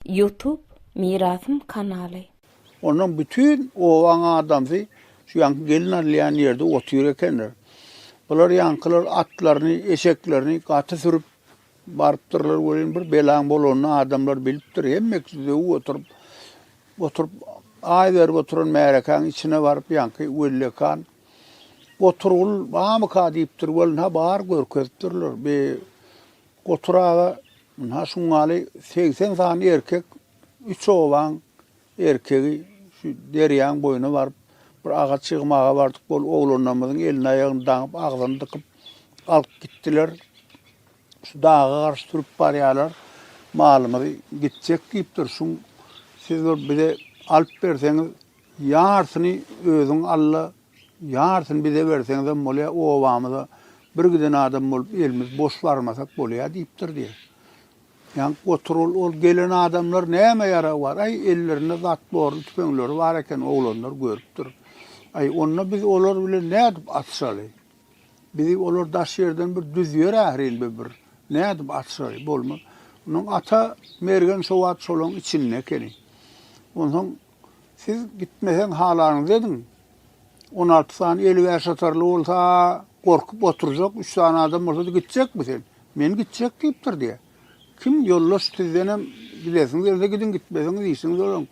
Youtube mirasym kanaly. Ondan bütin obaň adamsy şu ýaňky gelin alýan ýerde otyr ekenler. Bular ýaňkylar atlaryny, eşeklerini gaty sürüp barypdyrlar welin bir belaň bolanyny adamlar bilipdir. Hemmeksi düzewip oturyp, oturyp aý berip oturan märekäň içine baryp ýaňky wellekan Oturgul bamyka diýipdir welin ha bar görkezipdirler. Be Gotur aga, ynha şungaly segsen sany erkek, üç obaň erkegi şu derýaň boýuna baryp, bir agaç ýygmaga bardyk, ol oglanlarymyzyň elini-aýagyny daňyp, agzyny dykyp alyp gitdiler. Şu daga garşy sürüp barýarlar. Malymyz gitjek diýipdir. Şuň siz bir bize alyp berseňiz, ýarsyny özüň alla, Ýarysyny bize berseňizem bolýa, obamyza bir giden adam bolup elimiz boş barmasak bolýa diýipdir diýýär. Ýaňky gotur ol, ol gelen adamlar näme ýaragy bar? Aý, ellerinde zatborly tüpeňleri bar eken, oglanlar görüpdir. Aý, onda biz olar bilen nädip atyşaly? Bizi olar daş ýerden bir düzýär ährin be bir. Nädip atyşaly? Bolmaz. Onuň ata mergen şo wagt şolaň içinde ekeni. Onsoň Siz gitmeseň halaňyzy ediň. On alty sany eli bärsatarly bolsa, gorkup oturjak, üç sany adam bolsa gitjekmi sen? Men gitjek diýipdir diýýär. Kim ýoldaş sizden hem gidesiňiz gelse gidiň, gitmeseňiz işiňiz olaň.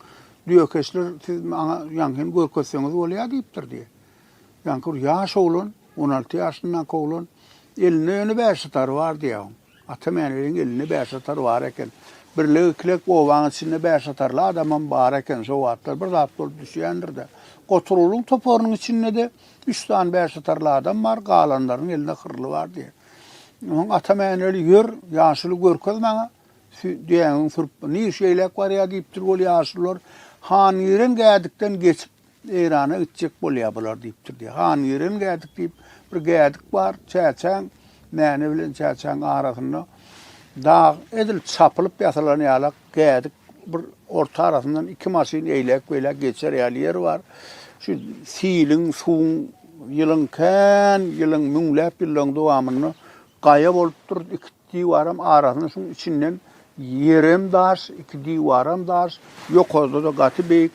Düýekeşler siz maňa ýaňkyny görkezseňiz bolýar diýipdir diýýär. Ýaňky bir ýaş oglan, on alty ýaşyndaky oglan, elinde ýöne bärsatary bar diýýär. Atamäniliň elinde bäş atar bar eken. Birlek-ikilek obaň içinde bäş atarly adamam bar eken. Şo wagtlar bir zat bolup düşýändir-de. Goturgulyň toparynyň içinde-de üç sany bäş atarly adam bar, galanlaryň elinde hyrly bar diýen. Soň Atamäneli, Ýör, ýaşuly görkez maňa, düýäňiň sürpbi. Nir şeýläk barýa diýipdir ol ýaşulylar. Hangiren gädikden geçip, Eýrana gitjek bolýar bular diýipdir diýýär. Han Ýeren gädik diýip, bir gädik bar. Çäçäň, Mäne bilen Çäçäň arasynda dag edil çapylyp ýasalan ýalak gädik bir orta arasyndan iki maşyn eýläk-beýläk geçer ýaly ýer bar. Şu siliň, suwuň ýylyň kän ýylyň, müňläp ýyllaryň dowamynda gaýa bolupdyr. Iki Diwaram arasyna şuň içinden ýerem daş, iki diwaram daş, ýokarda-da gaty beýik.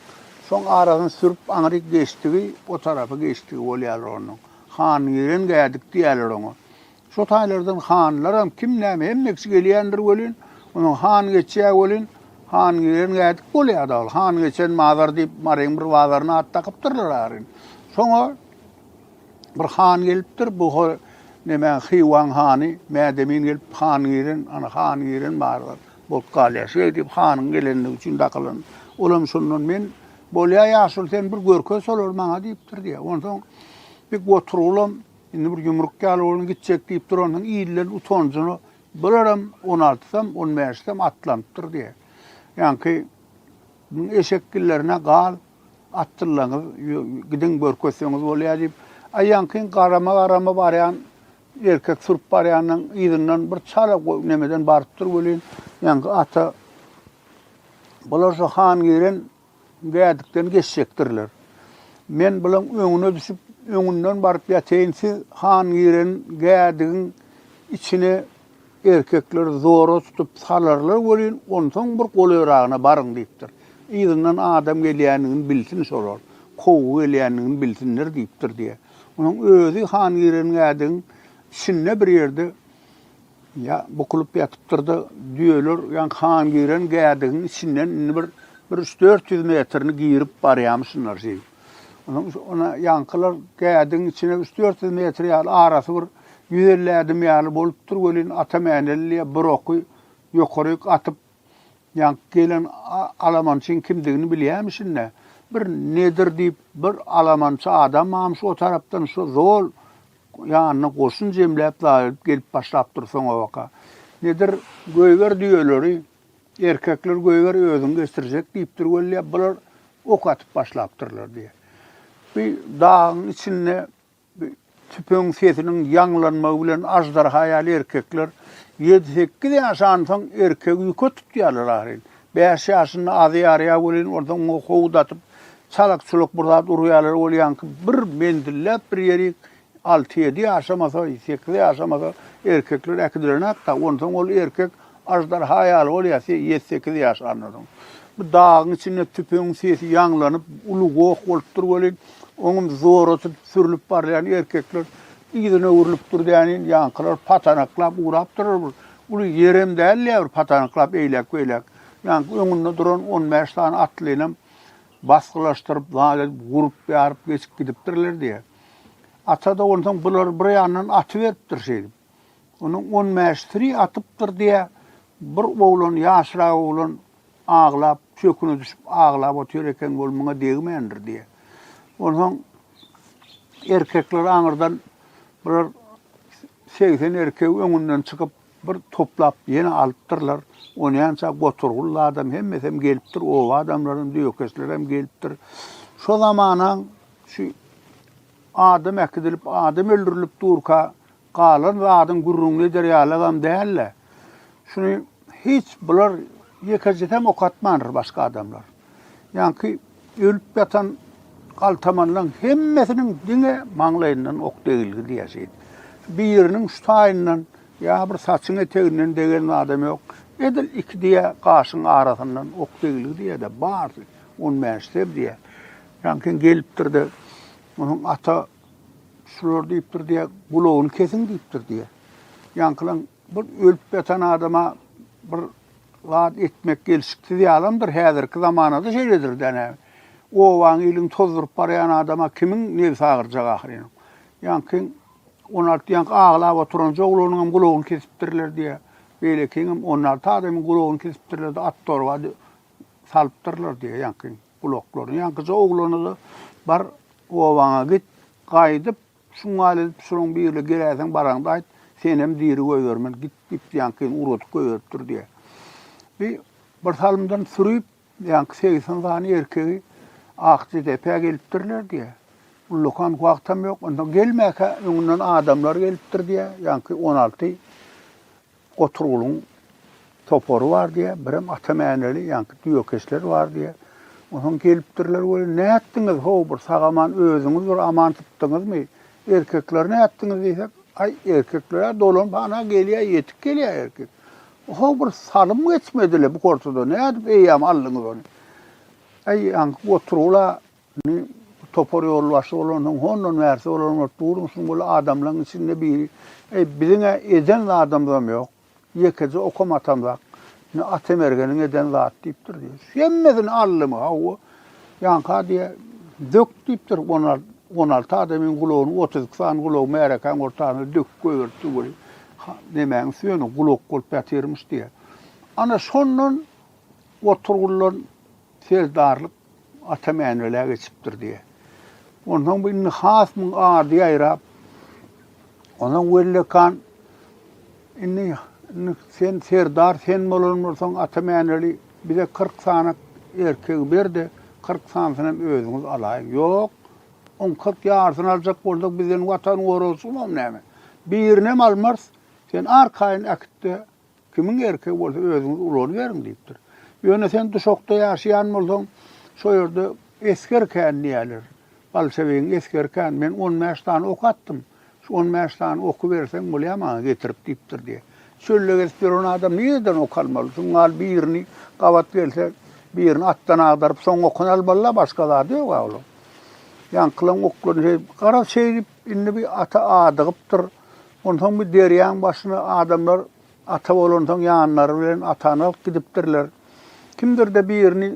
Şoň arasyny sürüp aňryk geçdigi, o tarapa geçdigi bolýarlar onuň. Hangiren gädik diýýärler oňa. Şo taýlardan hanlaram, kim näme, hemmesi gelýändir welin, onuň han geçýär welin, Hangiren gädik bolýar-da ol. Hangeçen mazar diýip, Maryň bir bazaryna at dakypdyrlar aryn. Şoňa Bir han gelipdir, bu ho neme Hywaň hany Mädemin gelip han giren, ana han giren barybir bolup galýar. Şeý diýip hanyň gelenligi üçin dakylan. Olam şondan men bolýa ýaşuly sen bir görkez şolary maňa diýipdir diýýär. Onsoň bir goturgulam indi bir ýumruk ýaly boldum gitjek diýipdir ondan ilden utanjyna bularam 16-sam 15-sam atlanypdyr diýýär. Ýaňky eşek gillerine gal Atdyllaňyz, gidiň görkezseňiz bolýa diýip, aýaňkyň garama-garama barýan erkek sürüp barýanyň yzyndan bir çala nemeden barypdyr welin, ýaňky ata Bular şu Hangiren gädikden geçjekdirler. Men bulaň öňüne düşüp, öňünden baryp ýateýin, siz Hangiren gädigiň içine Erkekleri zora tutup salarlar welin, onsoň bir golaýragyna baryň diýipdir. Yzyndan adam gelýändigini bilsin şolar, kowgy gelýändigini bilsinler diýipdir diýýär. Onuň özi han giren gädigiň içinde bir ýerde bukulyp ýatypdyr-da, düýeler ýaňky han giren gädigiň içinden indi bir üç-dört ýüz metrini girip barýarmyşynlar şeýdip. Onuň üçin ona ýaňkylar gädiň içine üç-dört ýüz metr ýaly arasy bir ýüz elli ädim ýaly bolupdyr welin, ata Mänelliýe bir oky ýokaryk atyp, ýaňky gelen alamançyň kimdigini bilýämişin-dä. Bir Nedir diýip bir alamançy adamam şo tarapdan şo zol ýanyna goşun jemläp, daýalyp gelip başlapdyr soňabaka. Nedir, Goýber düýeleri, Erkekler goýber özüň geçirjek diýipdir wella bular ok atyp başlapdyrlar diýýä. Bu dagyň içinde bu tüpeň sesiniň ýaňlanmagy bilen aždarha ýaly erkekler ýedi sekiz ýaş ansaň erkegi ýüke tutýarlar ahyryn. Bäş ýaşynda azy ýarýa welin onsoň oňa howdatyp çalak-çulak bir zat urýarlar bolýanky bir menzilläp bir ýerik Alty-ýedi ýaşamasa, sekiz ýaşamasa, erkekler äkidilenok-da, onsoň ol erkek aždarha ýaly bolýar, ýedi-sekiz ýaşandan soň. Bu dagyň içinde tüpeňiň sesi ýaňlanyp, uly goh bolupdyr welin, oňam zoratyp sürlüp barýan erkekler yzyna öwrülip durýanyn, ýaňkylar patanaklap ugrapdyrlar bir. Uly ýerem däl-ä bir patanaklap eýläk-beýläk. Ýaňky öňünde duran on bäş sany atlynam basgylaşdyryp, zat edip, gurup-ýaryp geçip gidipdirler diýýär. Ata-da onsoň bulary bir ýandan atyberipdir şeýdip. Onuň on bäş siri atypdyr diýýä. Bir oglan, ýaşrak oglan aglap, çöküne düşüp aglap otyr eken, ol muňa degmändir diýýä. Onsoň erkekler aňyrdan bular segsen erkegi öňünden çykyp, bir toplap ýene alypdyrlar. Onýança goturgully adam hemmesem gelipdir, oba adamlaram, döwekeslerem gelipdir. Şo zamanaň Şu adam äkidilip, adam öldürilip durka galan zadyň gürrüňini eder ýalygam däl-de, şuny hiç bular ýekejesem okatmandyr başga adamlar. Ýaňky ölüp ýatan galtamanlaryň hemmesiniň diňe maňlaýyndan ok degilgi diýersiň. Biriniň şu taýyndan ýa bir saçyň eteginden degen zadam ýok. Edil iki diýe gaşyň arasyndan ok degilgi diýer-de, barsy on bäş sem diýer. Ýaňky gelipdir-de, Onuň ata şular diýipdir diýýä, Gulagyny kesiň diýipdir diýýä. Ýaňkylaň bir ölüp ýatan adama bir zat etmek gelşiksiz ýalamdyr. Häzirki zamanada şeýledir-dä näme. Obaň, iliň tozduryp barýan adama kimiň nebsi agyrjak ahyryn. Ýaňky on alty ýaňky aglap oturanja oglanyňam gulagyny kesipdirler diýýä. Beýlekiňem on alty adamyň gulagyny kesipdirler-de, at-torba salypdyrlar diýýä ýaňky. Gulaklaryny ýaňkyja oglana-da, Bar, obaňa git, gaýdyp, şuň ýaly edip, şonuň birine geläýseň, baraňda aýt, senem diri goýbermen, git, diýip, ýaňkyny ugradyp goýberipdir diýýär. Bi bir salymdan sürüp, ýaňky segsen sany erkegi Akjadepä gelipdirler diýýär. Ullakan wagtam ýok. Onda gelmäkä öňünden adamlar gelipdir diýýär. Ýaňky on alty Goturgulyň topary bar diýýär, birem ata mäneli, ýaňky düýekeşler bar diýýär. Onsoň gelipdirler, Weli, nätdiňiz, ho, bir sag-aman özüňiz bir aman sypdyňyzmy? Erkekleri nätdiňiz diýsek, Aý, erkekler-ä dolanyp ana gelýär, ýetip gelýär erkek. Ho, bir salym geçmedi-le bu hortuda, nädip eýýäm aldyňyz ony? Aý, ýaňky Goturgul-a Indi topar ýolbaşçy bolansoň, hondan bärsi olaryň ört durmuşyny boldy. Adamlaryň içinde biri, Eý, biziň-ä eden zadymyzam ýok. Ýekeje okam atamzak. Indi Atamergeniň eden zady diýipdir, diýýär. Hemmesini aldymy, hawa, ýaňka, diýýär, dök diýipdir, on al, on alty adamyň gulagyny, otuz iki sany gulagy märekäň ortasyna döküp goýberipdir, weli, ha, nemäň süýeni gulak bolup ýatyrmyş, diýýär. Ana, şondan Oturguldan Serdarlyk Ata Mänwelä geçipdir diýýär. Onsoň bu indi has muň ady ýaýrap, onsoň Wellekan indi indi sen serdar sen bolan bolsaň Ata Mänweli bize kyrk sany erkegi ber-de, kyrk sanysyny hem özüňiz alaýyň. Ýok, oň kyrk ýarysyny aljak bolsak bizden watan goragçysymam näme? Birinem almarys, sen arkaýyn äkit-de, Kimiň erkegi bolsa özüňiz ulanyberiň diýipdir. Ýöne sen Duşakda ýaşaýan bolsaň, şo ýerde esger kän diýýärler. Bolşewigiň esgeri kän. Men on bäş sany ok atdym. Şu on bäş sany oky berseň bolýar maňa getirip diýipdir diýýär. Çölde gezip ýören adam nireden ok almaly? Şuň ýaly birini gabat gelse, birini atdan agdaryp, soň okuny almaly-la, başga zady ýog-a olaň. Ýaňkylaň oklaryny, garaz, şeýdip, Indi bi ata adygypdyr. Onsoň bi derýaň başyna adamlar ata bolansoň ýanlary bilen atany alyp gidipdirler. Kimdir-de birini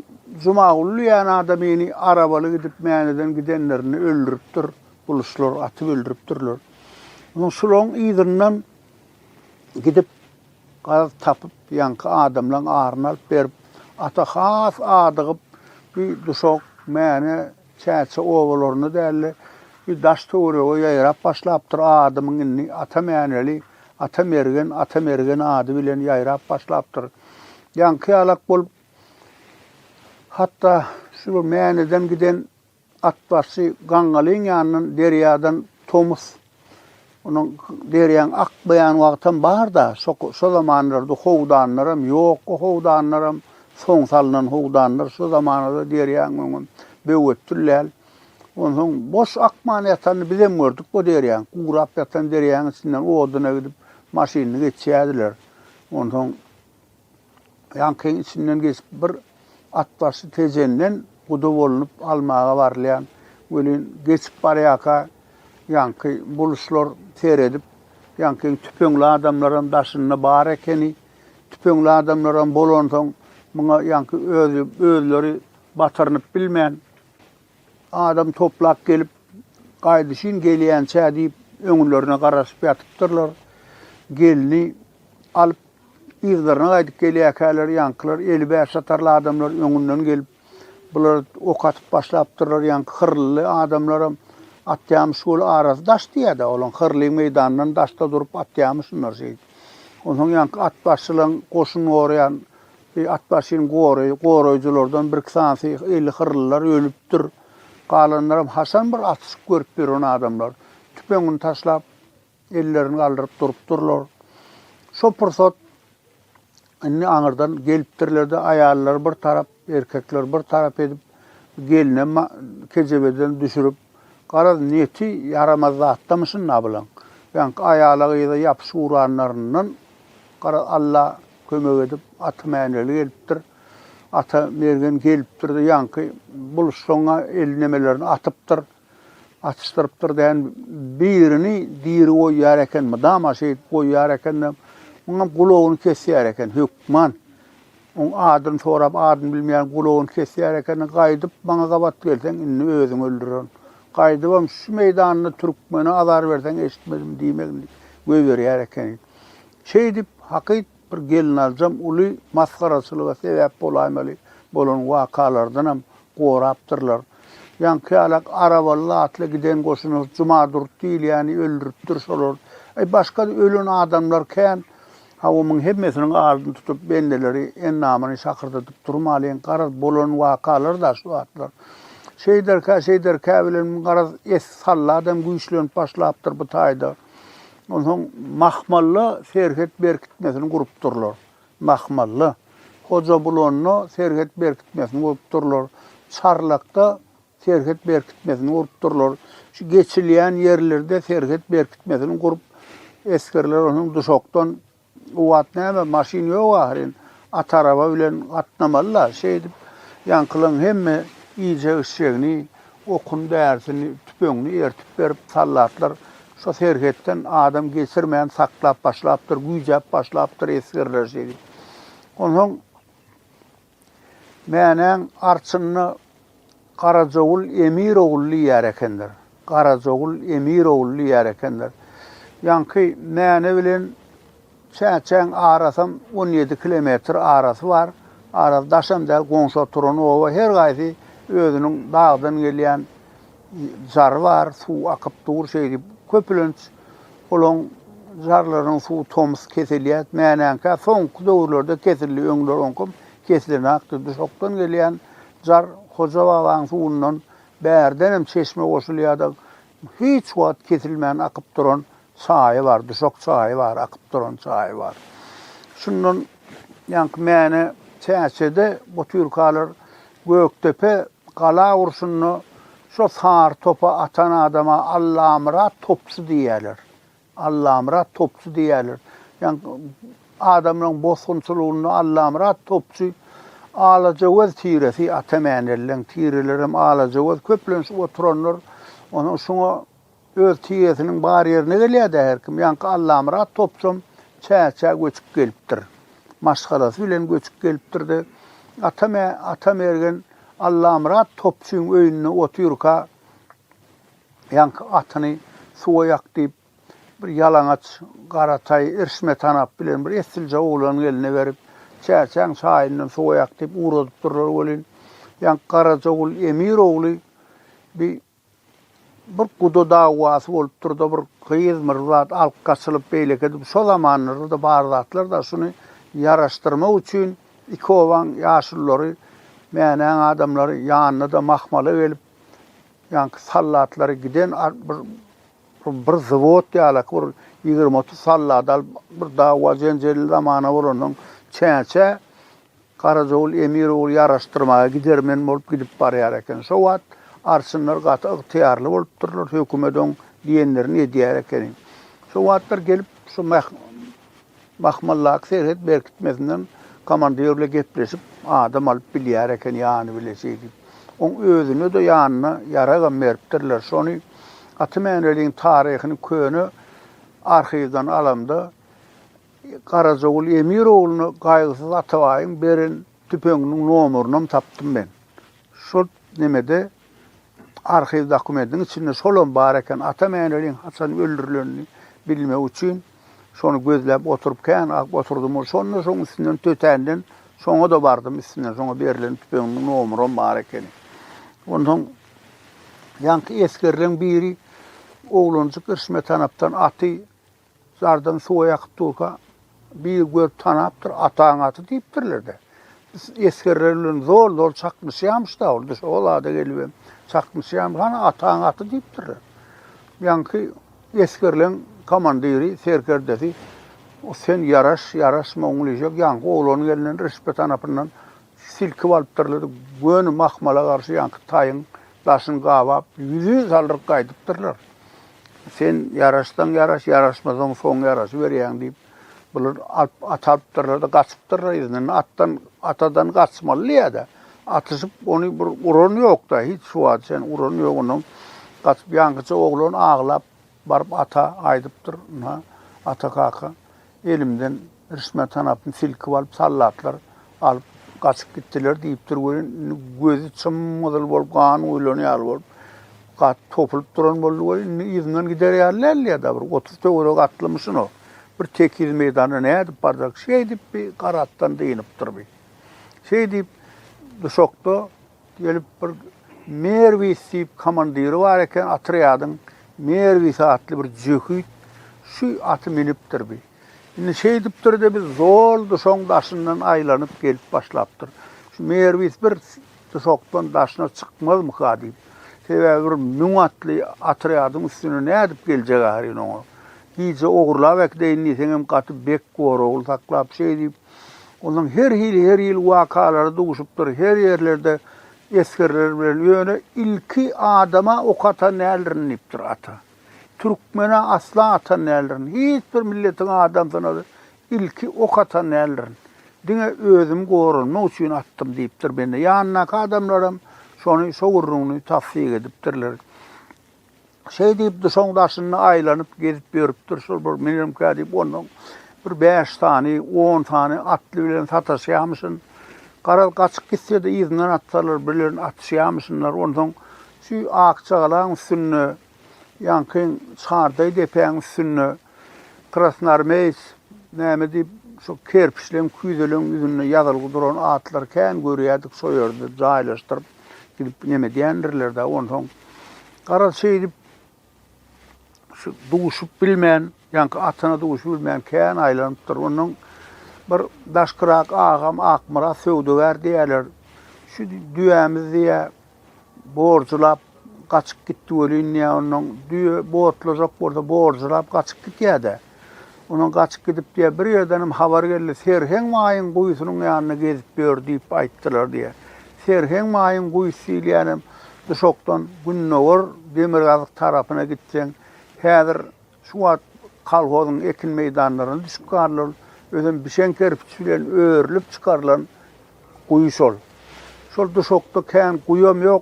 Jumaguly diýen adamyny arabaly gidip Mäneden gidenlerinde öldüripdir. Buluçlar atyp öldüripdirler. Onsoň şulaň yzyndan gidip gaz tapyp ýaňky adamlaň aryny alyp berip ata has adygyp bi duşak Mäne Çäçe obalaryna däl-de, bir daş-töwerege ýaýrap başlapdyr. Adymyň indi Ata Mäneli, Ata Mergen, Ata Mergen ady bilen ýaýrap başlapdyr. Ýaňky ýalak bolup, hatda şu bir Mäneden giden atbaşy Gaňňalyň ýanyndan derýadan tomus Onuň berýän ak beýan wagtam bar-da, şo zamanlarda howdanlaram ýok, o howdanlaram soň salnan howdanlar, şo zamanada derýaň öňem böwetdil däl. Onsoň boş akman ýatanyny bizem gördük o derýaň. Gurap ýatan derýaň içinden oduna gidip maşynyny geçýärdiler. Onsoň. Ýaňkyň içinden geçip bir atbaşy tejenden guda bolnup almaga barylýan welin geçip barýaka ýaňky buluşlar seredip ýaňkyň tüpeňli adamlaram daşynda bar ekeni tüpeňli adamlaram bolansoň muňa ýaňky özi özleri batyrynyp bilmän adam toplap gelip gaýdyşyn gelýänçä diýip öňülerine garaşyp ýatypdyrlar gelni alyp Yzlaryna gaýdyp gelýärkäler, ýaňkylar eli bäş satarly adamlar öňünden gelip, bular ok atyp başlapdyrlar, ýaňky hyrlyly adamlaram atýamyş ol arasy daş diýýär-dä, olaň hyrly meýdandan daşda durup atýamyş şunlar şeýdip. Onsoň ýaňky atbaşylaň goşun goraýan atbaşyny goraý, goraýjylardan birki sanysy eli hyrlylar ölüpdir. Galanlaram haçan bir atyşyk görüp ýören adamlar. Tüpeňini taşlap, Ellerini galdyryp durupdyrlar. Şo pursat indi aňyrdan gelipdirler-de, aýallary bir tarap, erkekleri bir tarap edip, gelne kejebeden düşürip, garaz, niýeti ýaramaz zatdamy şunda bulaň? Ýaňky aýala-gyza ýapyşyp uranlaryndan, garaz, Alla kömek edip, Ata Mäneli gelipdir. Ata Mergen gelipdir-de, ýaňky buluşsaň-a el nemelerini atypdyr. Atyşdyrypdyr dän birini diri goýýar eken mydama şeýdip goýýar ekende muňam gulagyny kesýär eken hökman oň adyny sorap adyny bilmeýän gulagyny kesýär eken gaýdyp maňa gabat gelseň indi özüňi öldürerin gaýdybam şu meýdanda türkmene azar berseň eşitmedim diýmegin göýberýär eken şeýdip hakyt Bir gelinaljam uly masgaraçylyga sebäp bolaýmaly bolan wakalardanam gorapdyrlar. Ýaňky ýalak arabaly zatly giden goşuna Jumadurdy diýilýäni öldüripdir şolar. Aý, başga-da ölen adamlar kän. Hawa, muň hemmesiniň ardyny tutup, bendeleri endamyny şakyrdadyp durmalyň, garaz, bolan wakalar-da şu zatlar. Şeýderkä, şeýderkä bilen, garaz, es-salladam güýçlenip başlapdyr bu taýda. Onsoň Mahmalla serhet berkitmesini gurupdyrlar. Mahmalla. Hojabulanda serhet berkitmesini gurupdyrlar. Çarlakda serhet berkitmesini gurupdyrlar. Şu geçilýän ýerlerde serhet berkitmesini gurup, esgerler onsoň duşakdan O wagt näme, maşyn ýok ahyryn. At araba bilen gatnamaly-la. Şeýdip, ýaňkylaň hemme iýjek-içjegini, okun-därisini, tüpeňini ertip berip, soldatlar şo serhetden adam geçirmän saklap başlapdyr, güýjäp başlapdyr esgerler şeýdip. Onsoň. Mänäň arçynda Garajogul Emirogul diýýär ekenler. Garajogul Emirogul diýýär ekenler. Ýaňky Mäne bilen Çäçäň arasam on ýedi kilometr arasy bar. Arasy daşam däl, goňşy oturan oba. Her gaýsy özüniň dagdan gelýän Jar bar, suw akyp dur şeýdip. Köpülenç olaň jarlarynyň suwy tomus kesilýär. Mänäňkä soňky döwürlerde kesildi, öňler oňkam kesilenakdy. Duşakdan gelýän jar Hoja babaň suwundan bärdenem çeşme goşulýardy. Hiç wagt kesilmän akyp duran Çaýy bar, duşak çaýy bar, akyp duran çaýy bar. Şundan ýaňky mäne Çäçede butyrkalar Gökdepe gala urşunda şo sary topa atan adama Allamyrat topçy diýýärler. Allamyrat topçy diýýärler. Ýaňky adamlaryň bosgunçylygynda Allamyrat topçy Alajagöz tiresi, Atamänellaň tirelerem Alajagöz köplenç oturanlar. Onuň şuňa Öz tiresiniň bar ýerine gelýär-dä her kim. Ýaňky Allamyrat topsam Çäçä göçüp gelipdir. Maşgalasy bilen göçüp gelipdir-de, atam ä, Atamergen Allamyrat topçyň öýünde otyrka ýaňky atyny suwa ýak diýip, bir ýalaňaç Garataý Irşmetanap bilen bir essilje oglanyň eline berip, Çäçäň çaýyndan suwa ýak diýip ugradypdyrlar welin, ýaňky Garajagul Emir ogly bi Bir guda dawasy bolupdyr-da, bir gyzmyr zat alyp gaçylyp, beýleki edip, şo zamanlarda-da bar zatlar-da, şuny ýaraşdyrmak üçin iki obaň ýaşululary, Mänäň adamlary, ýanyna-da mahmala gelip, ýaňky sallatlary giden bir bir zwod ýalaky bir ýigrimi-otuz sallaty alyp, bir dawa-jenjelli zamana bolandan çäçe, Garajagul emir ogul ýaraşdyrmaga gidermen bolup gidip barýar eken. Şo wagt arçynlar gaty ygtyýarly bolupdyrlar, hökümet oň diýenlerini edýär ekeni. Şo wagtlar gelip şu Mahmaldaky serhet berkitmesinden komandir bile gepleşip adam alyp bilýär eken ýany bile şeýdip. Oň özüne-de ýanyna ýaragam beripdirler. Şony Aty Mäneliň taryhyny köne arhiwden alamda, Garajagul Emir ogluna Gaýgysyz Atabaýyň beren tüpeňiniň nomerynam tapdym men. Şol nemede, arhiw dokumentiniň içinde şolam bar eken. Ata Mäneliň haçan öldürilenini bilmek üçin şony gözläp oturyp kän agyp oturdym. Şonda şoň üstünden tötänden şoňa-da bardym. Üstünden şoňa berlen tüpeňiniň nomeram bar ekeni. Onsoň ýaňky esgerleň biri oglanjyk irşme tanapdan aty Zardan suwa ýakyp durka, biri görüp tanapdyr, Ataň aty diýipdirler-de. Biz esgerler bilen zol-zol çaknyşýarmyş-da ol, düş, o zada gelibem çaknyşýarmyş, Hany, ataň aty diýipdirler. Ýaňky esgerleň komandiri, serkerdesi, Sen ýaraş, ýaraş, Moňňulyjek, ýaňky oglanyň elinden, Rişpe tanapyndan Silkip alypdyrlar, göni mahmala garşy ýaňky taýyň daşyny gabap, ýüzin saldyryp gaýdypdyrlar. Sen ýaraşsaň ýaraş, ýaraşmasaň soň ýaraşyberýäň diýip, bular alyp, at alypdyrlar-da, gaçypdyrlar yzyndan. Atdan, atadan gaçmaly diýýär-de, atyşyp, ony bir uran ýok-da, hiç şu wagta çenli uran ýok, ondan gaçyp, ýaňkyja oglan aglap, Baryp ata aýdypdyr. Ynha, ata kaka elimden rişme tanapyny silkip alyp, soldatlar alyp gaçyp gitdiler diýipdir welin, indi gözi çym-gyzyl bolup, gan guýlan ýaly bolup, gaty topulyp duran boldy welin, indi yzyndan gider ýaly däldi ýa-da bir otuz töweregi atlymyşyn o. Bir tekiz meýdanda nädip barjak? Şeýdip bi gara atdan dynypdyr bi. Şeýdip, duşakda Gelip bir Merwis diýip komandiri bar eken otrýadyň, Merwis atly bir jöhit şu aty minipdir bi. Indi şeýdipdir-de biz zol duşagyň daşyndan aýlanyp gelip başlapdyr. Şu Merwis bir duşakdan daşyna çykmazmyka diýip. Sebäbi bir müň atly otrýadyň üstüne nädip geljek ahyryn oňa. Gije ogurlap äkideýin diýseňem gaty bek goragly saklap şeý diýip Ondan her hili her hili wakalar duşupdyr. Her ýerlerde esgerler bilen ýöne ilki adama ok atan däldirin diýipdir ata. Türkmene asla atan däldirin. Hiç bir milletiň adamsyna ilki ok atan däldirin. Diňe özüm goranmak üçin atdym diýipdir bende. Ýanyndaky adamlaram şony şo gürrüňini tassyk edipdirler. Şeý diýip, duşaň daşynda aýlanyp gezip ýörüpdir. Şol bir menem kä diýip, ondan bir bäş sany, on sany atly bilen sataşýamyşyn. Garaz, gaçyp gitse-de yzyndan atsalar, birlerini atyşýamyşynlar. Onsoň şu Akjagalaň üstünde, ýaňky Çardaý depäň üstünde krasnarmeýec näme diýip, şu kerpiçleň, küýzeleň ýüzünde ýazylgy duran atlary kän görýärdik, şo ýerde jaýlaşdyryp, gidip neme diýendirler-dä, onsoň garaz şeýdip şu duşup bilmän, ýaňky atyna duşup bilmän kän aýlanypdyr. Ondan bir daşkyrak agam Akmyrat söwdagär diýerler. Şu düýämiz diýä borjulap gaçyp gitdi welin diýä ondan düýe botlajak bolsa borjulap gaçyp gitýär-de. Onuň gaçyp gidip diýýär. Bir ýerdenem habar geldi, Serheň maýyň guýusynyň ýanynda gezip ýör diýip aýtdylar diýýär. Serheň maýyň guýusy diýilýänem Duşakdan gündogar demirgazyk tarapyna gitseň, häzir şu wagt kolhozyň ekin meýdanlaryna düşüp galylan, özem bişen kerpiç bilen örülip çykarylan guýy şol. Şol Duşakda kän guýam ýok,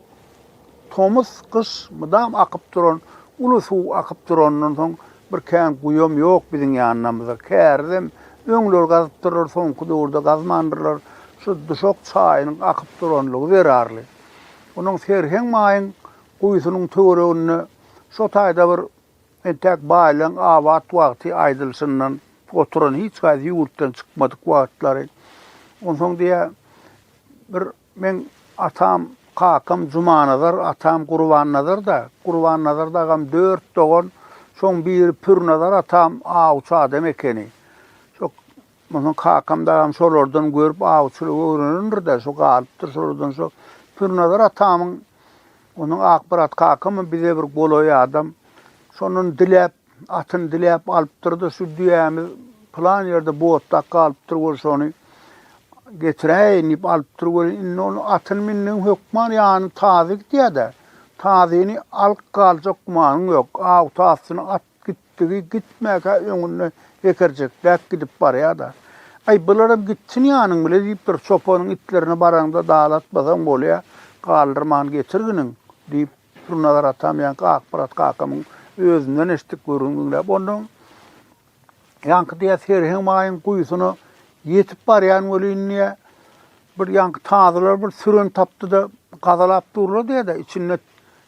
Tomus, gyş, mydam akyp duran uly suw akyp duranyndan soň bir kän guýam ýok biziň ýanynamyzda. Kärizem öňler gazypdyrlar, soňky döwürde gazmandyrlar. Şu duşak çaýynyň akyp duranlygy zerarly. Onuň serheň maýyň guýusynyň töwereginde şo taýda bir entäk baýlygyň abat wagty aýdylyşyndan oturan hiç haýsy ýurtdan çykmadyk wagtlary. Onsoň diýýär, bir Meň atam, kakam Jumanazar, atam Gurbannazar-da. Gurbannazar dagam dört dogan, şoň biri Pürnazar atam awçy adam ekeni. Şo onsoň kakam dagam şolardan görüp awçylygy öwrenendir-de, şo galypdyr şolardan şo. Pürnazar atamyň, onuň Akmyrat kakamam bize bir golaý adam. Şondan diläp, Atyny diläp alypdyr-da, şu düýämiz pylan ýerde botdak galypdyr welin, şony getiräýin diýip alypdyr welin, indi ol atyny mindigiň hökman ýanyna tazy gidýär-de, tazyny alyp galjak gümanyň ýok. Aw tazysyny at gitdigi gitmäkä öňünde hekerjekläp gidip barýar-da. Aý, bularam gitsin ýanyň bile diýipdir, çopanyň itlerine baraňda dalatmasaň bolýa, galdyrman getirginiň diýip, Pürnazar atam ýaňky Akmyrat kakamyň özünden eşitdik gürrüňi diňläp, ondan ýaňky diýýär, Serheň maýyň guýusyna ýetip barýan welin diýýär, bir ýaňky tazylar bir süren tapdy-da, gazalap durlar diýýär-de, içinde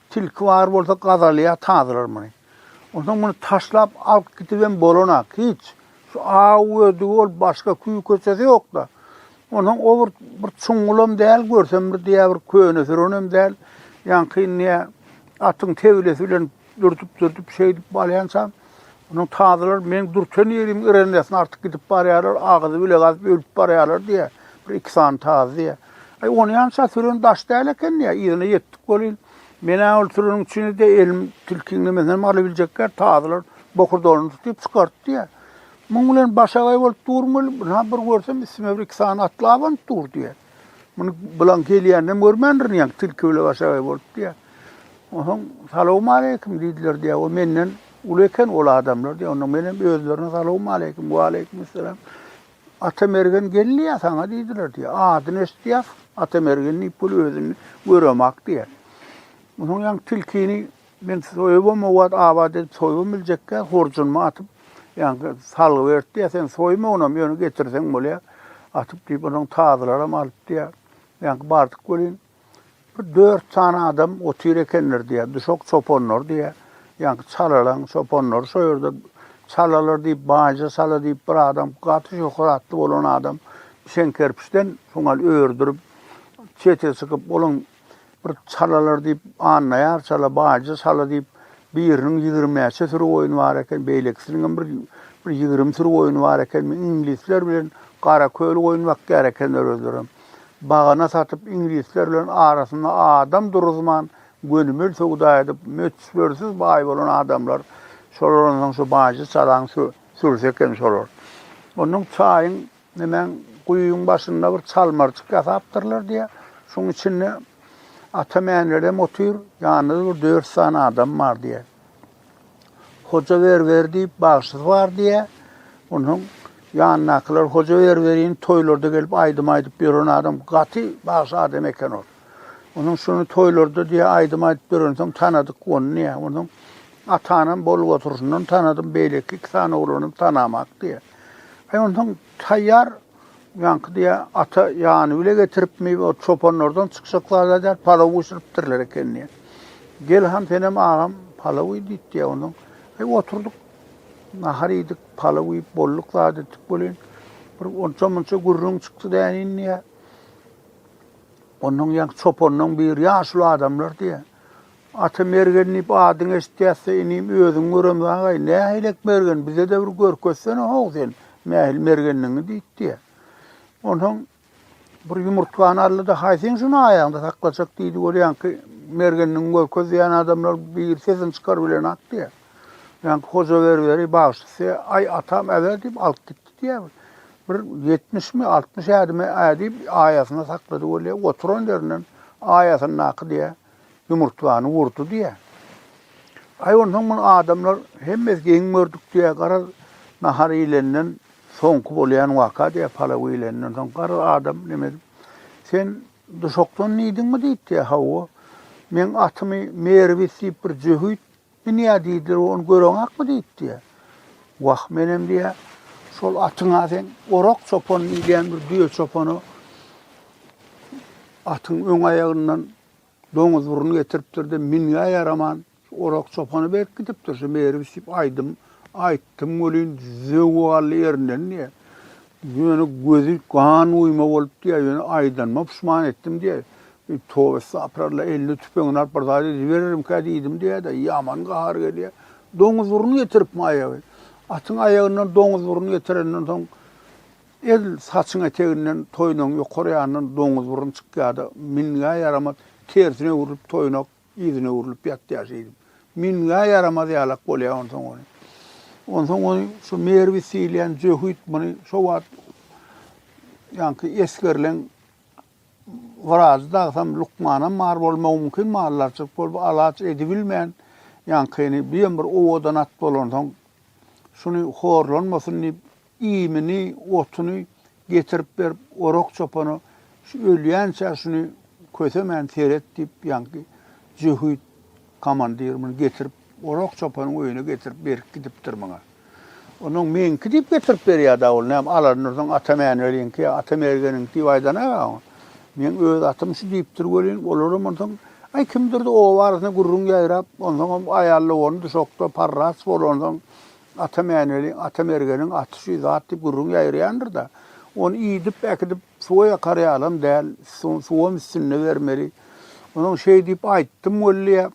tilki bar bolsa gazalýar tazylar muny. Onsoň muny taşlap alyp gidibem bolanak, hiç. Şu aw gödügi ol başga küý köçesi ýokda. Onsoň o bir bir çuňňulam däl görsem bir diýä bir köne sürenem däl. Ýaňky indi atyň tebilesi bilen dürtüp-dürtüp şeýdip balýançam. Onuň tazylar meň dürten ýeriň ýrendesin artyk gidip barýarlar, agyzy bile gazyp ölüp barýarlar diýä. Bir iki sany tazy diýä. Aý ony ýança süren daş däl eken diýä. Yzyna ýetdik welin. Men-ä ol süriň içinde elim tilkiň nimesine hem alybiljekkä, tazylar bokurdagyny tutup çykart diýýär. Muň bilen başagaý bolup durun gelip, ynha, bir görsem, üstüme bir-iki sany atly abanyp dur diýýär. Muny bilaň gelýänini hem görmändirin ýaňky tilki bile başagaý bolup diýýär. Onsoň, Salawmaleýkim diýdiler diýýär. O menden uly eken ol adamlar diýýär. Onda men hem özlerine Salawmaleýkim, Waleýkimessalam Atamergen gelýär saňa diýdiler diýýär. Adyny eşidýär, Atamergen diýip bul özüni göremak diýýär. Munuň ýaňy tilkini men soýubam o wagt abat edip soýubam biljekkä horjunymy atyp ýaňky salgy berip diýýär. Sen soýma onam ýöne getirseň bolýar. Atyp diýip onuň tazylaram alyp diýýär. Ýaňky bardyk welin Bir dört sany adam otyr ekenler diýýär. Düşek çopanlar diýýär. Ýaňky çalalaň çopanlary şo ýerde çalalar diýip, baýja çala diýip bir adam, gaty şöhratly bolan adam içen kerpiçden şoňal ördürip, çete çykyp, olaň bir çalalar diýip, annaýar çala, baýja çala diýip, biriniň ýigrimäçe süri goýny bar eken, beýlekisiniň hem bir bir ýigrimi süri goýny bar ekenmi, iňlisler bilen Garaköli goýun bakýar ekenler özlerem. bagana satyp, iňlisler bilen arasynda adam duruzman, gönümel söwda edip, möçbersiz baý bolan adamlar, şolar onsoň şu baýjy çalaň sürüsi eken şolar. Onsoň çaýyň, nemäň, guýyň başynda bir çalmarjyk ýasapdyrlar diýýär. Şuň içinde ata-mänelerem otyr, ýanynda-da bir dört sany adam bar diýýär. Hoja ber ber diýip bagşysy bar diýä. Ondan ýanyndakylar hoja ber berin toýlarda gelip aýdym aýdyp ýören adam gaty bagşy adam eken ol. Onuň şuny toýlarda diýä aýdym aýdyp ýörensoň tanadyk ony diýä. Onuň atanam bolup oturşyndan tanadym, beýleki iki sany oglanam tanamak diýä. Aý ondan taýýar Ýaňky diýýä, ata ýany bile getiripmi, ol çopanlardan çykjak zat aýdýar, palaw bişiripdirler eken diýýä. Gel han senem agam palaw iý diýip diýýä. Ondan aý oturdyk, nahar iýdik, palaw iýip bolduk zat etdik welin, bir onça-munça gürrüň çykdy dänin diýýä. Ondan ýaňky çopanlaryň biri ýaşuly adamlar diýýä. Ata Mergen diýip adyňy eşitýäs-de, inim, özüň göremz aga-aý, nähilek mergen, bize-de bir görkezsene how sen, nähili mergendigiňi diýipdi-ä. Onsoň bir ýumurtgany aldy-da, Haý, seň şuny aýagyňda saklajak diýdi, görýäňki, mergendigiňi görkez diýýän adamlar bir sesini çykaryp bilenok diýýär. Ýaňky Hoja Berberi bagşysy, Aý, atam äber diýip alyp gitdi diýýär. Bir ýetmişmi, altmyş ädime ädip, aýasyna saklady welin, oturan ýerinden aýasyndaky diýýär, ýumurtgany urdy diýýär. Aý, onsoň muny adamlar hemmesi geň gördük diýýär. Garaz, nahar iýlenden soňky bolýan waka diýýär, palaw iýlenden soň. Garaz, adam näme edip, Sen duşakdan iýdiňmi diýipdi. Hawa. Meň atymy Merwis diýip bir jöhit Men ýa diýdiler, ony göreňakmy diýip diýä. Wah, menem diýä, şol atyňa seň orak çopan diýilýän bir düýe çopany atyň öň aýagyndan doňuz burun getiripdir-de, minge ýaraman, orak çopany berip gidipdir, şu Merwis diýip aýdym aýtdym welin, zöwwi galdy ýerinden diýä. Ýöne gözi gan guýma bolup diýä, ýöne aýdanyma puşman etdim diýä. Tobe estapyralla, eline tüpeňini alyp bir zat edibererimkä diýdim diýýä-de, ýaman gahary gelýä. Doňuz burun getiripmi aýagy. Atyň aýagyndan doňuz burun getirenden soň edil saçyň eteginden toýnagyň ýokary ýanyndan doňuz burun çykýa-da, mingä ýaramaz, tersine öwrülip toýnak yzyna öwrülip ýatýa şeýdip. Mingä ýaramaz ýalak bolýa onsoň ony. Onsoň ony şu Merwis diýilýän jöhit muny şo wagt ýaňky esgerleň Orazy dagsam, lukmanam bar bolmagy mümkin, maldarçylyk bolup alaç edibilmän, ýaňkyny birem bir owadan at bolansoň, şuny horlanmasyn diýip, iýmini, otuny getirip berip, Orak çopana şu ölýänçä şuny kösemän seret diýip, ýaňky jöhit komandir muny getirip, Orak çopanyň öýüne getirip berip gidipdir muňa. Onuň meňki diýip getirip berýär-dä ol, näme Alan Nursuň Ata Mäniweliňki ýa Ata Mergeniňki diýip aýdana-a oň. Meň öz atym şu diýipdir welin, olaram onsoň, aý, kimdir-de oba arasynda gürrüň ýaýrap, onsoňam aýallawany düşekde parraç bolup onsoň, Ata Mäniweliň, Ata Mergeniň aty şu zat diýip gürrüň ýaýraýandyr-da, ony iýdip, äkidip suwa ýakar ýalam däl, suwam üstünde bermeli. Onuň şeý diýip aýtdym welli-ä,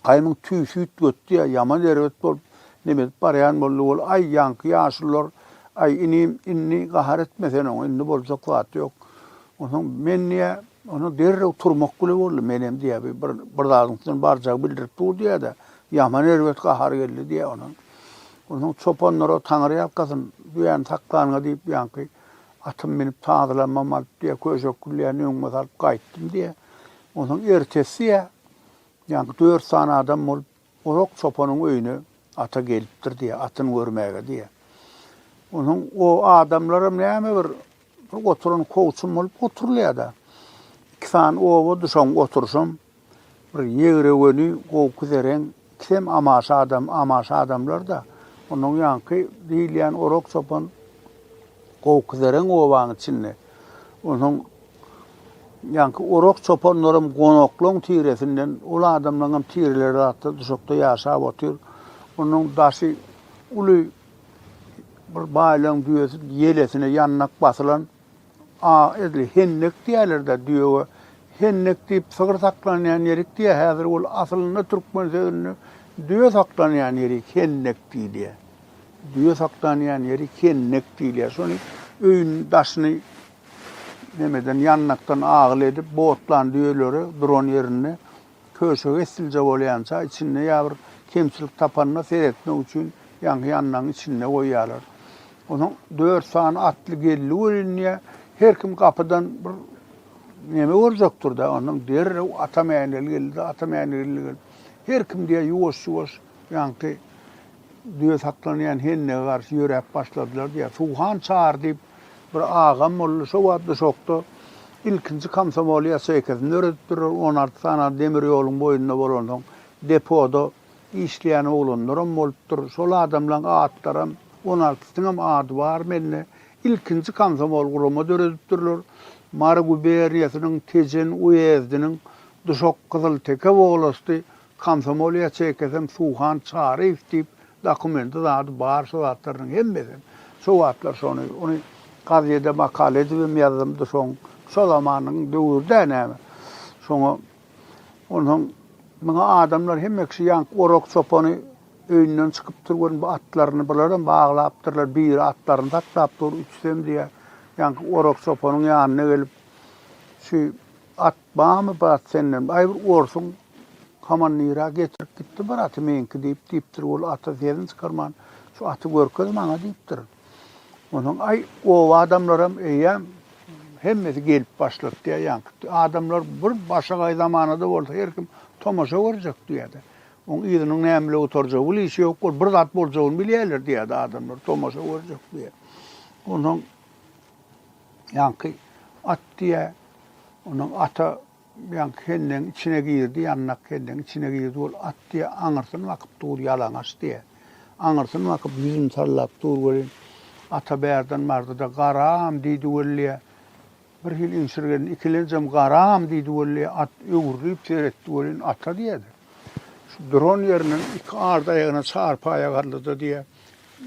Gaýymyň tüýsi üýtgetdi ýa ýaman erbet bolup, neme edip barýan boldy ol, Aý, ýaňky ýaşulylar, aý, inim, indi gahar etme sen oňa, indi boljak zat ýok. Onsoň men diýýär, onsoň derrew turmak bile boldy, menem diýýär, bi, bir, bir zadyň üstünden barjagy bildirip dur diýýär-de, ýaman erbet gahar geldi diýýär onsoň. Onsoň çopanlara, Taňryýalkasyn, düýäni saklanyňa diýip, ýaňky atymy minip, tazylanmamy alyp diýýär, köşek gülleýän öňüme salyp gaýtdym diýýär. Onsoň ertesi diýýär, Ýaňky dört sany adam bolup, Orak çopanyň öýüne ata gelipdir diýýär, atyny görmäge diýýär. Onsoň o adamlaram näme bir, bir oturan kowçum bolup oturylýar-da. Iki sany oba düşen oturyşam, bir ýegre göni, gowky zeren Sem amaşa adam, amaşa adamlar-da, onuň ýaňky diýilýän orak-çopan gowkizeren obanyň içinde. Onuň ýaňky orak-çopanlaram gonaklaň tiresinden, ol adamlaňam tireleri zatda duşakda ýaşap otyr. Onuň daşy uly bir baýlaň düýesi ýelesine ýandak basylan. A edil hendek diýerler-dä düýege. Hendek diýip sygyr saklanýan ýerik diýýär. Häzir ol aslynda türkmen sözünde düýe saklanýan ýerik hendek diýilýär. Düýe saklanýan ýerik hendek diýilýär. Şony öýüň daşyny nämeden ýandakdan agyl edip botlan düýeleri duran ýerinde Köşegi essilje bolýança, içinde ýa bir kemçilik tapanda seretmek üçin ýaňky ýanlaryň içinde goýýarlar. Onuň dört sany atly geldi görünýär. Her kim gapydan bir neme görjekdir-de, ondan derrew Atamäneli geldi, Atamäneli geldi. Her kim diýýär ýuwaş-ýuwaş ýaňky Düýe saklanýan hendege garşy ýöräp başladylar diýýär. Suhan çary diýip bir agam boldy. Şo wagt Duşakda ilkinji komsomol ýaseýkasyn döredipdirler. On alty sany demir ýoluň boýunda bolansoň, depoda işleýän oglanlaram bolupdyr. Şol adamlaryň atlaram, on altysynyň hem ady bar mende. Ilkinji komsomol gurama döredipdirler. Mary guberniýasynyň Tejen uýezdiniň Duşak-Gyzylteke wolasty Komsomol ýaçeýkasam Suhan Çaryýew diýip, dokumenty zady bar şo zatlarynyň hemmesem. Şo wagtlar şony, ony gazede makala edibem ýazdymdy soň. Şo zamanyň döwürde näme. Şoňa onsoň muňa adamlar hemme kişi ýaňky Orak çopany öýünden çykypdyr görüň bu atlaryny bularam baglapdyrlar. Biri atlaryny saklap dur, üçüsem diýýär. Ýaňky Orak çopanyň ýanyna gelip şu at Bamy bat senden, aý bir orsuň komandyra getirip gitdi bir aty meňki diýip, diýipdir, ol ata sesini çykarman, şu aty görkez maňa diýipdir. Onsoň aý oba adamlaram eýýäm hemmesi gelip başlapdyýa ýaňky adamlar bir başagaý zamanada bolsa her kim tomaşa görjek diýýärdi. Oň yzynyň nämüle gutarjagy bil işi ýok bol bir zat boljagyny bilýärler diýýärdi adamlar tomaşa görjek diýýär. Onsoň Ýaňky at diýýä. Ondan ata ýaňky hendegiň içine girdi, ýandak hendegiň içine girdi. Ol at diýýä, aňyrsyny bakyp dur, ýalaňaç diýýä. Aňyrsyny bakyp, ýüzüni sallap dur welin, ata bärden bardy-da, Garam! diýdi wellä. Birhili iňşirgendi. Ikilenjem Garam! diýdi wellä. At öwrülip seretdi welin, ata diýýä-de, şu duran ýerinden iki arda aýagyna çarpaýa galdy-da diýýä.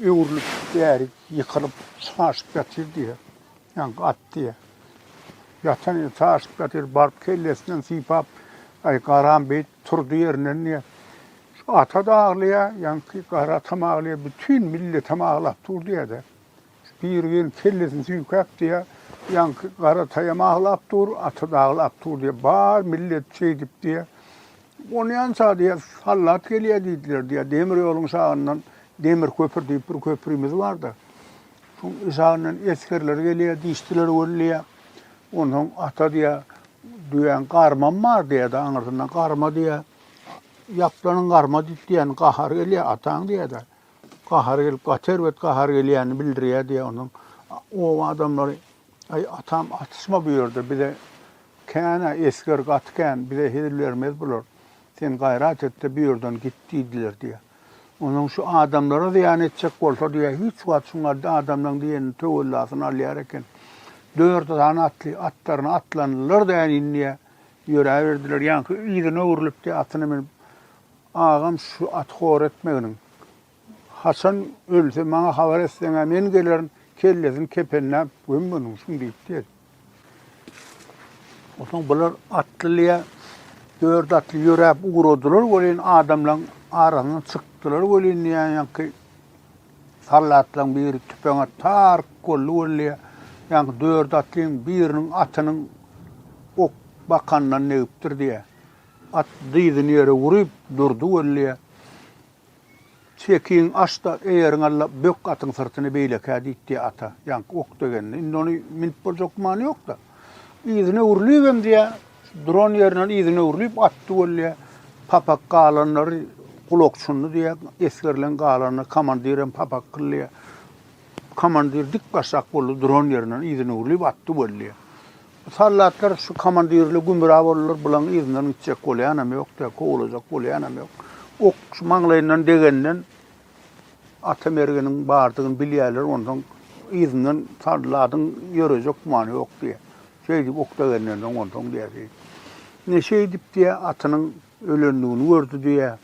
Öwrülip bärik ýykylyp saşyp ýatyr diýýär. Ýaňy gat diýýär. Ýatan ýeri saşyp ýatyr. Baryp kellesinden sypap, Aý, garam beýt turdy ýerinden diýýär. Şu ata-da aglaýar, ýaňky gara atam aglaýar, bütin milletem aglap dur diýýär-de. Biri gelip kellesini süýkäp diýýär, ýaňky garataýam aglap dur, ata-da aglap dur diýýär. Bar millet şeýdip diýýär. Onýança diýýär, sallat gelýär diýdiler diýýär. Demir ýoluň şagyndan Demir köpür diýip bir köprümiz bar-da. Şoň şagyndan esgerler gelýär, dişdiler gürleýär. Onsoň ata diýýär, düýäň garmam bar diýýär-de, aňyrsyndan garma diýýär. Ýaplanyň garma diýip diýýän, gahary gelýär ataň diýýär-de. Gahary gelip, gaty erbet gahary gelýänini bildirýär diýýär. Ondan oba adamlary, Aý, atam, atyşma bu ýerde, bize kän-ä, esger gaty kän, bize hezil bermez bular. Sen gaýrat et-de, bu ýerden git diýdiler diýýär. Ondan şu adamlara zyýan etjek bolsa diýýär, hiç wagt şu adamlaryň diýenini töwellasyny alýar eken. Dört sany atly atlaryna atlandylar-da, äniýn diýýär, ýöräberdiler. Ýaňky yzyna öwrülip diýýär, atyna münüp, Agam şu aty hor etmeginiň. Haçan ölse maňa habar etseň-ä men gelerin, kellesini kepenläp gömmelin şuň diýipdi. Onsoň bular atlylyja dört atly ýöräp ugradylar welin adamlaryň arasyndan çykdylar welin diýýän ýaňky sallatlaryň biri tüpeňe tark boldy welli ýaňky dört atlyň biriniň atynyň ok bakanyndan degipdir diýýär. At dyzyny ýere urup, durdy Weliýe. Çekiň aç-da, eýeriň alla, bök atyň syrtyny beýlekä diýdi ata. Ýaňky ok degende, indi ony münüp boljak gümany ýok-da. Yzyna öwrülibem diýýä, şu duran ýerinden yzyna öwrülip atdy Weliýe. Papak galanlary gulak çundy diýýä, esgerleň galanyna komandirem papak kylýa. Komandir dik başak boldy, duran ýerinden yzyna öwrülip atdy Weliýe. Soldatlar şu komandirli gümra boldular, bulaň yzyndan gitjek bolýanam ýok-da, kowlajak bolýanam ýok. Ok şu maňlaýyndan degenden ata mergeniň bardygyny bilýärler, onsoň yzyndan soldatyň ýörejek gümany ýok diýýär. Şeýdip ok degenden soň onsoň diýýär, şeýdip, neşe edip diýýär, atynyň ölendigini gördi diýýär.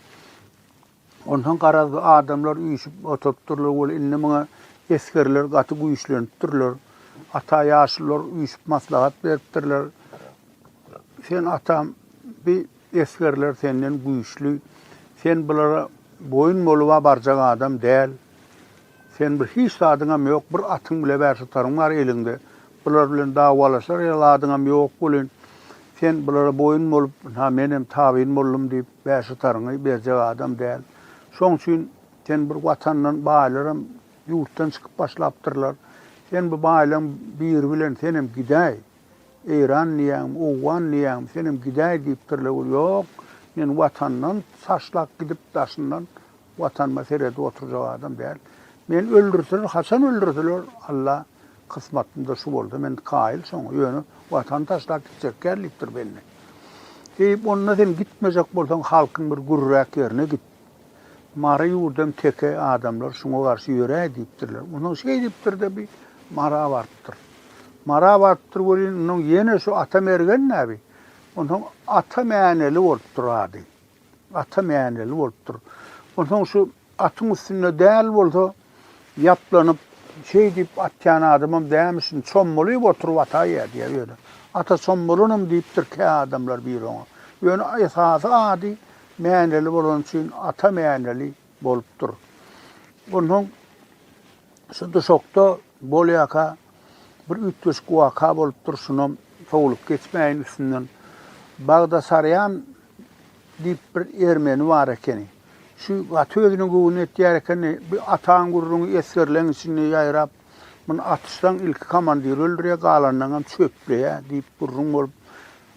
Onsoň garaz bu adamlar üýşüp oturypdyrlar weli indi muňa esgerler gaty güýçlenipdirler. Ata ýaşulylar üýşüp maslahat beripdirler. Sen atam bi esgerler senden güýçli. Sen bulara boýun boluba barjak adam däl. Sen bir hiç zadyňam ýok bir atyň bile bär tutaryň bar eliňde bular bilen dawalaşar ýaly zadyňam ýok welin sen bulara boýun bolup ha menem tabyn boldum diýip bär tutaryňy berjek adam däl şoň üçin sen bir watandan baýlaram ýurtdan çykyp başlapdyrlar sen bu baýlaň biri bilen senem gidäý eýran diýýäňmi owgan diýýäňmi senem gidäý diýipdirler ýok men watandan saşlap gidip daşyndan Watanyma seredip oturjak adam däl. Meni öldürseler, haçan öldürseler, Alla kysmatynda şu bolsa, men kaýyl şoňa, ýöne Watany taşlap gitjek däl diýipdir belli. Eý, onda sen gitmejek bolsaň, halkyň bir gürräk ýerine git. Mary ýurdam teke, adamlar şuňa garşy ýöräý diýipdirler. Onsoň şeý diýipdir-de, bi Mara barypdyr. Mara barypdyr welin, onsoň ýene şu Atamergen näbi? Onsoň Ata Mäneli bolupdyr ady. Ata mäneli bolupdyr. Onsoň şu atyň üstünde däl bolsa, ýaplanyp, şeý diýip atýan adamam dämişin, çommalyp oturyp ataýýa diýýär ýöne. Ata çommalanam diýipdir kä adamlar bir oňa. Ýöne esasy ady mäneli bolany üçin Ata mäneli bolupdyr. Onsoň. Şu duşakda bolýaka bir üýtgeşik waka bolupdyr, şunam sowlup geçmäýin üstünden. Bagdasarýan diýip bir ermeni bar ekeni. Şu gaty özüne göwün etýär ekeni, bir atan gürrüňi esgerleň içinde ýaýrap, muny atyşsaň ilki komandiri öldürýär, galanlaňam çöpleýär diýip gürrüň bolup,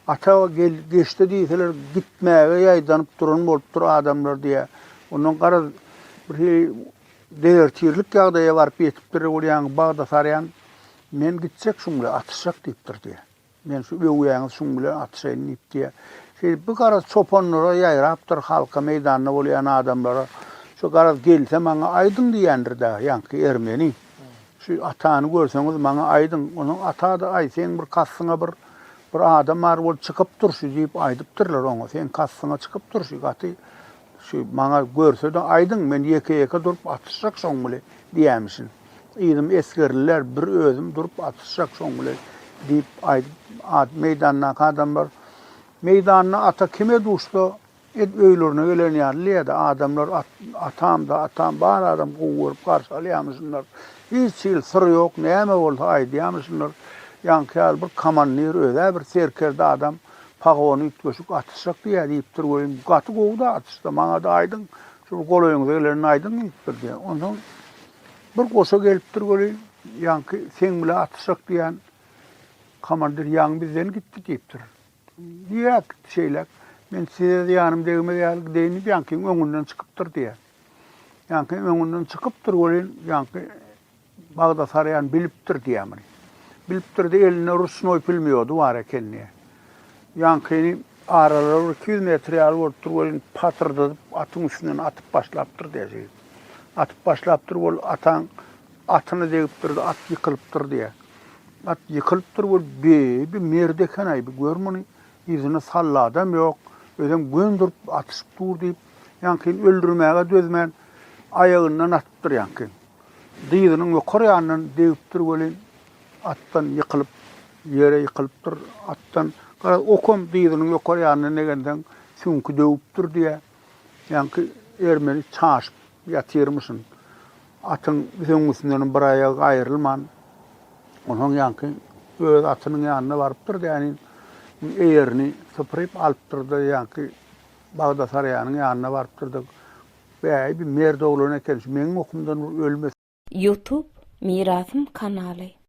ata gel, geçde diýseler gitmäge ýaýdanyp duran bolupdyr adamlar diýýär. Ondan garaz, birhili Dezertirlik ýagdaýa baryp ýetipdir, ol ýaňy Bagdasarýan, Men gitjek şuň bilen, atyşjak diýipdir diýýär. Men şu öwýäňiz şuň bilen atyşaýyn diýip diýýär. Şeýdip bir garaz çopanlara ýaýrapdyr, halka, meýdanda bolýan adamlara, Şu garaz gelse maňa aýdyň diýendir dagy ýaňky ermeni. Şu atany görseňiz maňa aýdyň. Onuň ata-da, Aý, seň bir kastyňa bir bir adam bar, ol çykyp durşy diýip aýdypdyrlar oňa. Seň kastyňa çykyp durşy, gaty Şu maňa görse-de aýdyň, men ýeke-ýeke durup atyşjak şoň bile diýämişin. Yzym esgerliler, bir özüm durup atyşjak şoň bile diýip aýdyp, meýdandaky adamlar Meýdanda ata kime duşsa, edil öýlerine gelen ýaly diýýä-de, adamlar Atam-da, atam, bar adam gowy görüp garşy alýamyşynlar. Hiç hili syr ýok, näme bolsa aýdýamyşynlar. Ýaňky ýaly bir komandir, öz-ä bir serkerde adam Pagony üýtgeşik atyşjak diýýär diýipdir welin, gaty gowy-da atyşdy. Maňa-da aýdyň, şu bir golaýyňyza gelenini aýdyň diýipdir diýýär. Onsoň bir goşa gelipdir welin, ýaňky seň bilen atyşjak diýýän komandir ýaňy bizden gitdi diýipdir. Ýöräp gitdi şeýläk. Men size zyýanym degmez ýaly gideýin diýip, ýaňkyň öňünden çykypdyr diýýär. Ýaňky öňünden çykypdyr welin, ýaňky Bagdasarýan bilipdir diýýär muny. Bilipdir-de, elinde ruşnoý pulmýody bar ekeni. Ýaňkyny aralygy bir iki ýüz metr ýaly bolupdyr welin, patyrdadyp atyň üstünden atyp başlapdyr diýýär jigim. Atyp başlapdyr, bol ataň atyna degipdir-de, at ýykylypdyr diýýär. At ýykylypdyr, bol beýbi merd eken-aý, bu gör muny, yzyna salla adam ýok, özem gön durup atyşyp dur diýip, ýaňkyny öldürmäge dözmän, aýagyndan atypdyr ýaňkyny. Dyzynyň ýokary ýanyndan degipdir welin, atdan ýykylyp, ýere ýykylypdyr. Atdan, garaz, okam dyzynyň ýokary ýanyndan degendeň süňki döwüpdir diýýär. Ýaňky ermeni çaşyp ýatyrmyşyn. Atyň süňňüsindenem bir aýagy aýrylman, onsoň ýaňky öz atynyň ýanyna barypdyr, däniň eýerini sypyryp alypdyr-da, ýaňky Bagdasarýanyň ýanyna barypdyr-da, Bäý bir merd oglan eken şu meň okumdan bir ölmesin. Youtube mirasym kanaly.